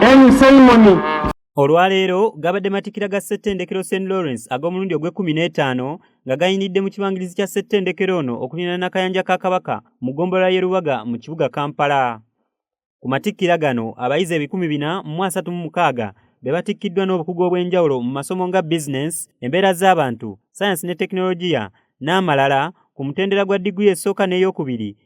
Any ceremony olwaleero gabadde matikira ga ssettendekero st lawrence ag'omulundi ogw'ekkumi n'etaano nga gayinidde mu kibangirizi kya ssettendekero ono okulina n'akayanja ka kabaka mu ggombolola y'e lubaga mu kibuga kampala ku matikkira gano abayizi ebikumi bina mu asatu mu mukaaga be batikkiddwa n'obukugu obw'enjawulo mu masomo nga bizinensi embeera z'abantu sayansi ne tekinologiya n'amalala ku mutendera gwa diguli esooka n'eyokubiri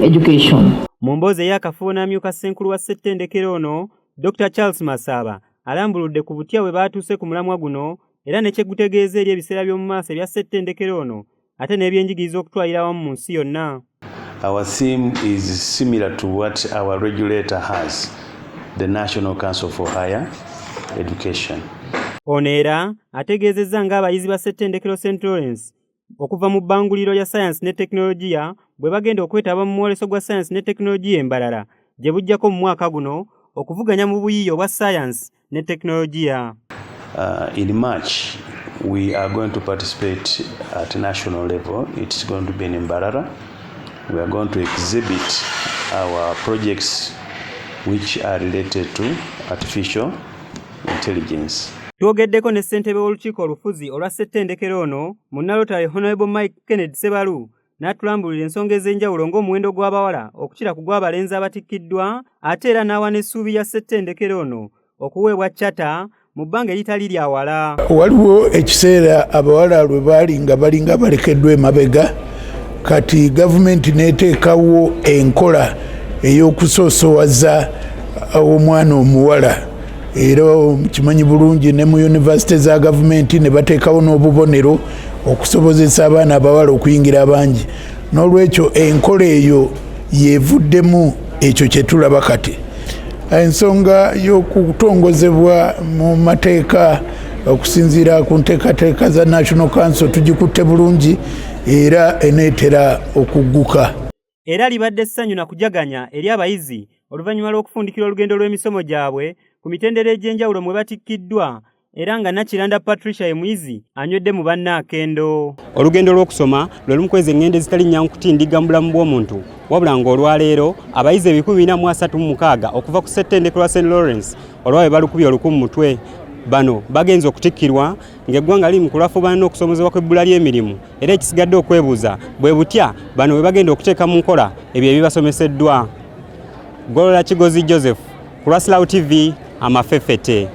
education. Mu mboozi ey'akafubo n'amyuka ssenkulu wa ssettendekero ono Dr Charles Masaaba alambuludde ku butya bwe baatuuse ku mulamwa guno era ne kye gutegeeza eri ebiseera by'omu maaso ebya ssettendekero ono ate n'ebyenjigiriza okutwalira awamu mu nsi yonna. Our theme is similar to what our regulator has, the National Council for Higher Education. Ono era ategeezezza ng'abayizi ba ssettendekero St Lawrence okuva mu bbanguliro lya sayansi ne tekinologiya bwe bagenda okwetaba mu mwoleso gwa sayansi ne tekinologiya e Mbarara gye bujjako mu mwaka guno okuvuganya mu buyiiya obwa sayansi ne tekinologiya. Uh, in March, we are going to participate at national level. It's going to be in Mbarara. We are going to exhibit our projects which are related to artificial intelligence. Twogeddeko ne ssentebe w'olukiiko olufuzi olwa ssettendekero ono mu Nalotale Honorable Mike Kennedy Sebalu n'atulambulira ensonga ez'enjawulo ng'omuwendo gw'abawala okukira ku gw'abalenzi abatikkiddwa ate era n'awa n'essuubi ya ssettendekero ono okuweebwa cata mu bbanga eritali lya wala. Waliwo ekiseera abawala lwe baali nga balinga balekeddwa emabega kati gavumenti n'eteekawo enkola ey'okusoosowaza omwana omuwala. era kimanyi bulungi ne mu yunivasite za gavumenti ne bateekawo n'obubonero okusobozesa abaana abawala okuyingira abangi n'olwekyo enkola eyo yevuddemu ekyo kye tulaba kati ensonga y'okutongozebwa mu mateeka okusinziira ku nteekateeka za national council tugikutte bulungi era eneetera okugguka era libadde ssanyu na kujaganya eri abayizi oluvannyuma lw'okufundikira olugendo lw'emisomo gyabwe ku mitendera egy'enjawulo mwe batikkiddwa era nga nakiranda patricia emuyizi anywedde mu banna akendo olugendo lw'okusoma lwe lumu kwezi eŋŋendo ezitali nnyangu kutindigga mu bulamu bw'omuntu wabula ng'olwaleero abayizi ebikumi bina mu asatu mu mukaaga okuva ku ssettendekero wa st lawrence olwawe balukubye oluku mu mutwe bano bagenze okutikkirwa ng'eggwanga liri mu kulafuubana n'okusomozebwa kw'ebbula ly'emirimu era ekisigadde okwebuuza bwe butya bano bwe bagenda okuteeka mu nkola ebyo ebibasomeseddwa golola kigozi joseph ku lwasilawo tv amafefete